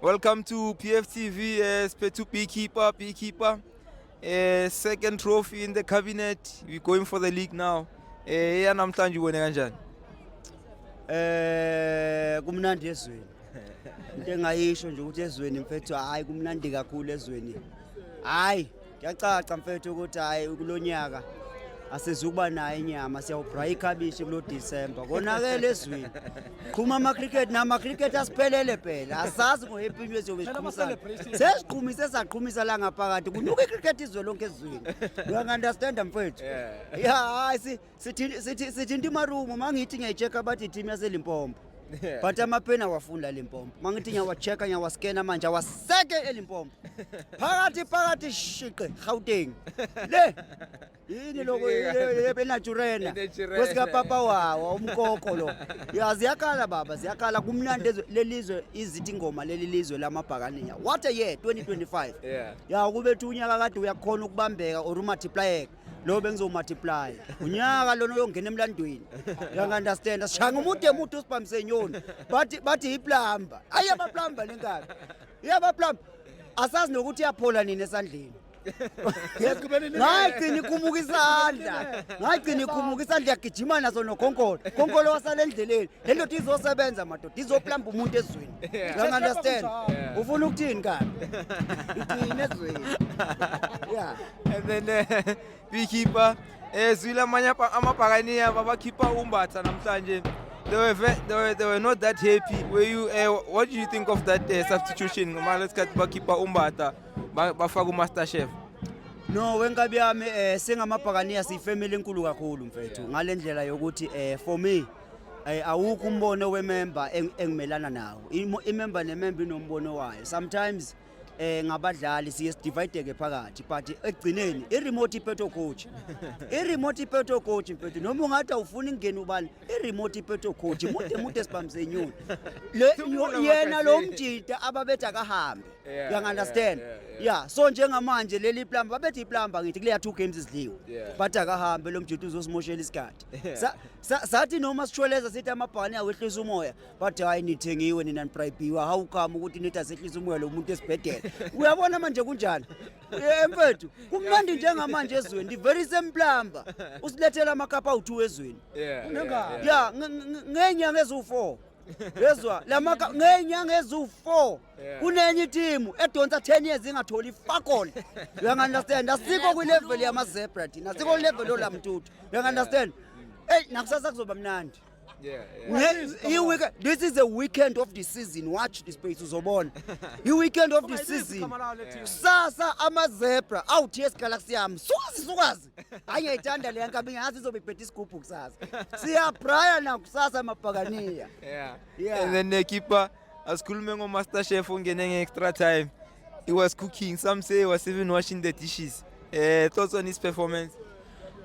Welcome to PFTV, uh, eh, Spetu Beekeeper, Beekeeper. Uh, second trophy in the cabinet. We're going for the league now. Eh, yeah, namhlanje ubone kanjani? Eh, kumnandi ezweni. Into engayisho nje ukuthi ezweni mfethu hayi kumnandi kakhulu ezweni. Hayi Kuyacaca mfethu ukuthi hayi kulo nyaka asizukuba nayo inyama siyawubhraya ikhabishi kulo December konakele ezweni qhuma amacricket namacricket asiphelele phela asazi ngohappy new eziyobe siqhumisana sesiqhumise saqhumisa la ngaphakathi kunuka icricket izwe lonke ezweni uyangi-understanda mfethu ya hayi si sithinta imarumu uma ngithi ngiyayi-check-a abathi i-team yaselimpompo but amapeni awafuni lalimpompo uma ngithi ngiyawa-check-a ngiyawaskena manje awaseke elimpompo phakathi phakathi shiqe gauteng le yini loko enaturena kwesikapapa wawo umkoko lo ya ziyakhala baba ziyakhala kumnandi ezwe- lelizwe izithi ingoma leli lizwe lamabhakaniya what a year 2025 Yeah. ya ukubethu unyaka kade uyakhona ukubambeka or umathiplayeka lo bengizomultiply unyaka lona uyongena emlandweni uyangu-understand asishanga umude mude usibhamise nyoni bathi bathi yiplamba ayi abaplamba le nkani iyabaplamba asazi nokuthi iyaphola nini esandleni ngayigcina ikhumuka isandla ngayigcina ikhumuka isandla yagijima naso nokhonkolo khonkolo wasala endleleni le ndoda izosebenza madoda izoplamba umuntu ezweni uyangu-understand ufuna ukuthini kani igcine ezweni ya And then uh, we keep uh, eh, zwile amanye apa- amabhakaniya babakhipha umbatha namhlanje they were, ve- they, were, they were not that happy were you uh, what do you think of that uh, substitution ngomane isikhathi bakhipha umbatha ba- bafaka umaster chef No wenkabi yami eh singamabhakaniya siyifamily enkulu kakhulu mfethu ngalendlela yokuthi eh for me eh awukho umbono wemember eng- engimelana nawo Imo- imember nemember inombono wayo sometimes eh ngabadlali siye sidivideke phakathi but ekugcineni i-remote ipeto coach i-remote ipeto coach mfethu noma ungathi awufuni ingena ubani i-remote ipeto coach mude mude sibamsenyoni yena lo mjita ababethi akahambe yeah, you understand yeah, yeah, yeah. yeah so njengamanje leli plamba babethi iplamba ngithi kuleya two games izidliwe yeah. but akahambe lo mjita uzosimoshela isikhathi sathi sa, sa, noma sishweleza sithi amabhani awehlisa umoya bathi hayi nithengiwe nina nibrayibhiwa hawu kama ukuthi nithi asehlisa umoya lo muntu esibhedela uyabona manje kunjani Eh, mfethu kumnandi njengamanje ezweni ndi very same plumber usilethela amakapa awu-two ezweni Yeah, Unengane. ya nge- nge- ngeenyanga eziwu-four yezwa lamaka ngeenyanga eziwu-four Yeah. kunenye itimu edonsa 10 years ingatholi fakole uyangu-understand asikho kwilevel yamazebra thina asikho kwilevel yolamtuthu uyangu-understand eyi nakusasa kuzoba mnandi Yeah, yeah. We have- Please, come i- on. week- this is the weekend of the season watch this space uzobona i-weekend of the season kusasa amazebra awuthi esigalaxy yami sukazi sukazi hayi ngiyayithanda leya nkabi ngazi izobe ibhethe isigubhu kusasa siyabraya nakusasa mabhakaniya Yeah. Yeah. And then the keeper asikhulume ngomaster chef ongene nge-extra time He was cooking. Some say he was even washing the dishes. Uh, thoughts on his performance?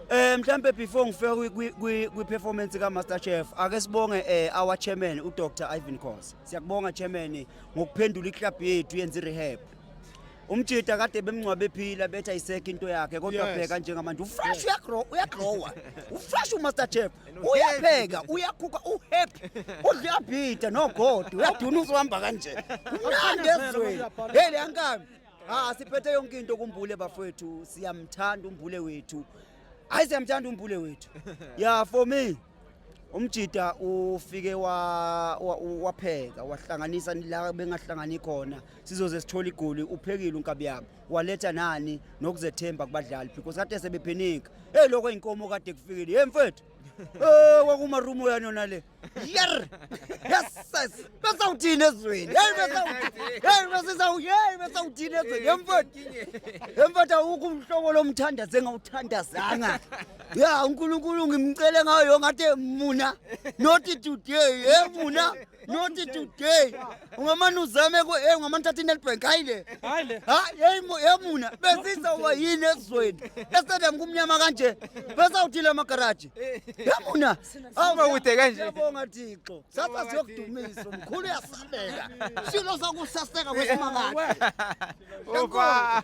Eh mhlambe before ngifike kwi performance ka Master Chef ake sibonge eh our chairman u Dr Ivan Khosi. Siyakubonga chairman ngokuphendula i club yethu yenza i rehab. umjita kade bemngcwabe ephila betha iseke into yakhe kodwa bheka njengamanje ufresh uyagrow uyagrowa ufresh umaster chef uyapheka uyakhukha uhappy udla uyabhida nogodi uyaduna uzohamba kanje kumnandi ezweni hey leya nkabi ha siphethe yonke into kumbule bafowethu siyamthanda umbule wethu hayi siyamthanda umbule wethu ya for me umjida ufike wapheka wahlanganisa la bengahlangani khona sizoze sithole igoli uphekile unkabi yami waletha nani nokuzethemba kubadlali because kade sebephenika hey lokho eyinkomo kade kufikile hey mfethu eh kwakuma room yani yona le yer yes besa uthini ezweni hey besa hey besa hey besa uthini ezweni hey mfethu hey mfethu awukho umhlobo lomthanda zengawuthandazanga ya uNkulunkulu ngimcele ngayo ngathi muna not today hey muna not today ungamane uzame ku eh ungamane thatha inetbank hayi le hayi le ha yeyimo yamuna besiza uba yini ezweni estadium kumnyama kanje besawuthile amagaraji yamuna awuba kude kanje siyabonga thixo sasa siyokudumisa mkhulu uyasabeka silo sakusaseka kwesimakathi okwa